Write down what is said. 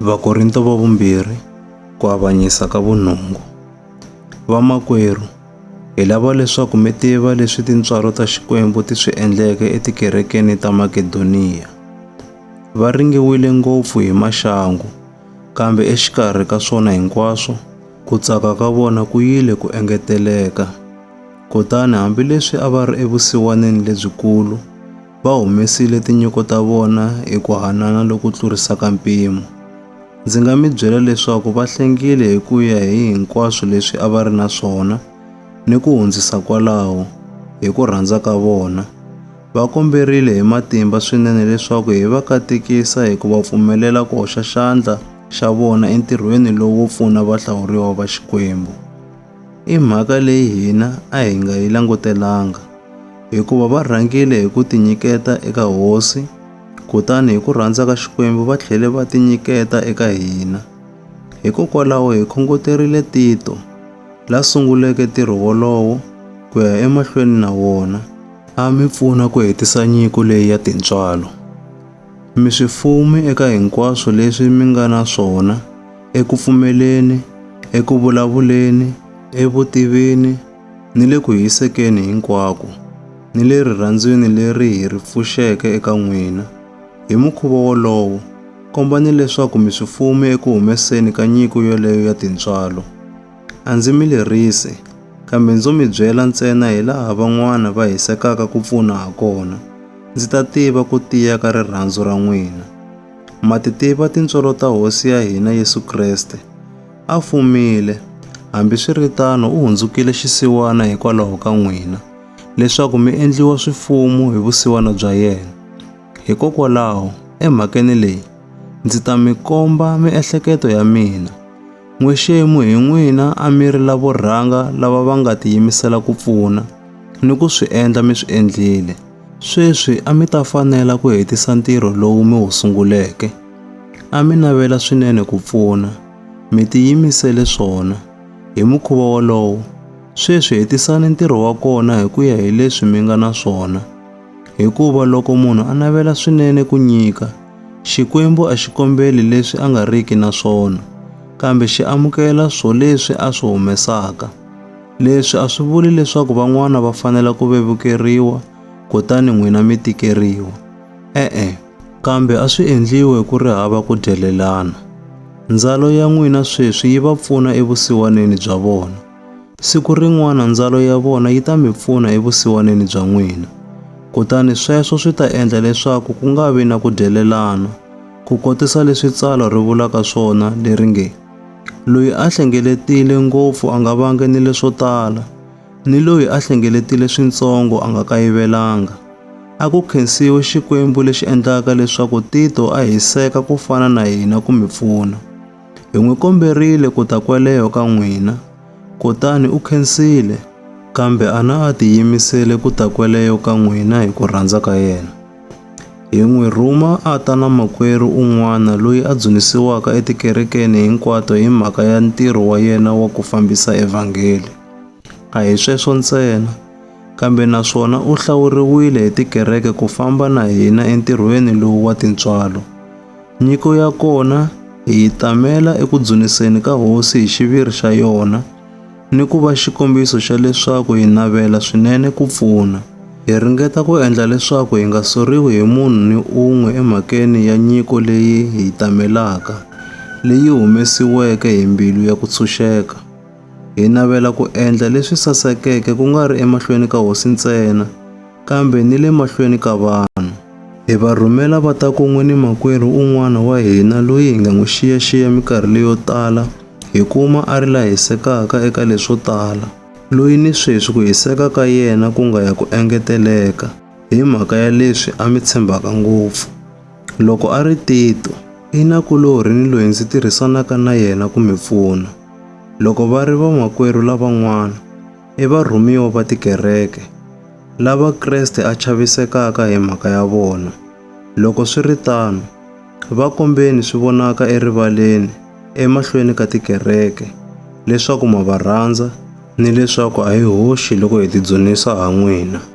Vakorinto va vumbirhi ku avanyisa ka vunungu. Vamakwerhu, hi lava leswaku mi tiva leswi tintswalo ta Xikwembu ti swi endleke etikerekeni ta Makedoniya. Va ringiwile ngopfu hi maxangu, kambe exikarhi ka swona hinkwaswo, ku tsaka ka vona ku yile ku engeteleka. Kutani hambileswi a va ri evusiwaneni lebyikulu, va humesile tinyiko ta vona hi ku hanana loku tlurisaka mpimo. Ndzi nga mi byela leswaku va hlengile hi ku ya hi hinkwaswo leswi a va ri na swona ni ku hundzisa kwalaho hi ku rhandza ka vona. Va komberile hi matimba swinene leswaku hi va katekisa hi ku va pfumelela ku hoxa xandla xa vona entirhweni lowo pfuna vahlawuriwa va Xikwembu. I mhaka leyi hina a hi nga yi langutelanga, hikuva va rhangile hi ku tinyiketa eka Hosi, kutani hi ku rhandza ka Xikwembu va tlhele va tinyiketa eka hina. Hikokwalaho hi khongoterile Tito, la sunguleke ntirho wolowo, ku ya emahlweni na wona, a mi pfuna ku hetisa nyiko leyi ya tintswalo. Mi swi fumi eka hinkwaswo leswi mi nga na swona, eku pfumeleni, eku vulavuleni, evutivini, ni le ku hisekeni hinkwako, ni le rirhandzwini leri hi ri pfuxeke eka n'wina. Hi mukhuva wolowo, kombani leswaku mi swi fume eku humeseni ka nyiko yoleyo ya tintswalo. A ndzi mi lerisi, kambe ndzo mi byela ntsena hi laha van'wana va hisekaka ku pfuna ha kona, ndzi ta tiva ku tiya ka rirhandzu ra n'wina. Ma ti tiva tintswalo ta Hosi ya hina Yesu Kreste. A fumile, hambiswiritano u hundzukile xisiwana hikwalaho ka n'wina, leswaku mi endliwa swifumu hi vusiwana bya yena. Hikokwalaho, emhakeni leyi, ndzi ta mi komba miehleketo ya mina. N'wexemu hi n'wina a mi ri lavo rhanga lava va nga tiyimisela ku pfuna ni ku swi endla mi swi endlile. Sweswi a mi ta fanela ku hetisa ntirho lowu mi wu sunguleke. A mi navela swinene ku pfuna, mi tiyimisele swona. Hi mukhuva wolowo, sweswi hetisani ntirho wa kona hi ku ya hi leswi mi nga na swona. Hikuva loko munhu a navela swinene ku nyika, Xikwembu a xi kombeli leswi a nga riki na swona, kambe xi amukela swoleswi a swi humesaka. Leswi a swi vuli leswaku van'wana va fanela ku vevukeriwa kutani n'wina mi tikeriwa. E-e, kambe a swi endliwe ku ri hava ku dyelelana. Ndzalo ya n'wina sweswi yi va pfuna evusiwaneni bya vona. Siku rin'wana ndzalo ya vona yi ta mi pfuna evusiwaneni bya n'wina. Kutani sweswo swi ta endla leswaku ku nga vi na ku dyelelana, ku kotisa leswi tsalwa ri vulaka swona leri nge, Loyi a hlengeletile ngopfu a nga vangi ni leswo tala, ni loyi a hlengeletile swintsongo a nga kayivelanga. A ku khensiwe Xikwembu lexi endlaka leswaku Tito a hiseka ku fana na hina ku mi pfuna. Hi n'wi komberile ku ta kweleho ka n'wina, kutani u khensile, kambe a na a tiyimisele ku ta kweleho ka n'wina hi ku rhandza ka yena. Hi n'wi rhuma a ta na makwerhu un'wana loyi a dzunisiwaka etikerekeni hinkwato hi mhaka ya ntirho wa yena wa ku fambisa evhangeli. A hi sweswo ntsena, kambe naswona u hlawuriwile hi tikereke ku famba na hina entirhweni lowu wa tintswalo. Nyiko ya kona hi yi tamela eku dzuniseni ka Hosi hi xiviri xa yona. ni ku va xikombiso xa leswaku hi navela swinene ku pfuna. Hi ringeta ku endla leswaku hi nga soriwi hi munhu ni un'we emhakeni ya nyiko leyi hi yi tamelaka, leyi humesiweke hi mbilu ya ku tshunxeka. Hi navela ku endla leswi sasekeke ku nga ri emahlweni ka Hosi ntsena, kambe ni le mahlweni ka vanhu. Hi va rhumela va ta kun'we ni makwerhu un'wana wa hina loyi hi nga n'wi xiyaxiya minkarhi leyo tala, hi kuma a ri la hisekaka eka leswo tala, loyi ni sweswi ku hiseka ka yena ku nga ya ku engeteleka hi mhaka ya leswi a mi tshembaka ngopfu. Loko a ri Tito, i nakulorhi ni loyi ndzi tirhisanaka na yena ku mi pfuna. Loko va ri vamakwerhu lavan'wana, i varhumiwa va tikereke, lava Kreste a chavisekaka hi mhaka ya vona. Loko swi ri tano, Va kombeni swi vonaka erivaleni emahlweni ka tikereke leswaku ma va rhandza ni leswaku a hi hoxi loko hi tidzunisa ha n'wina.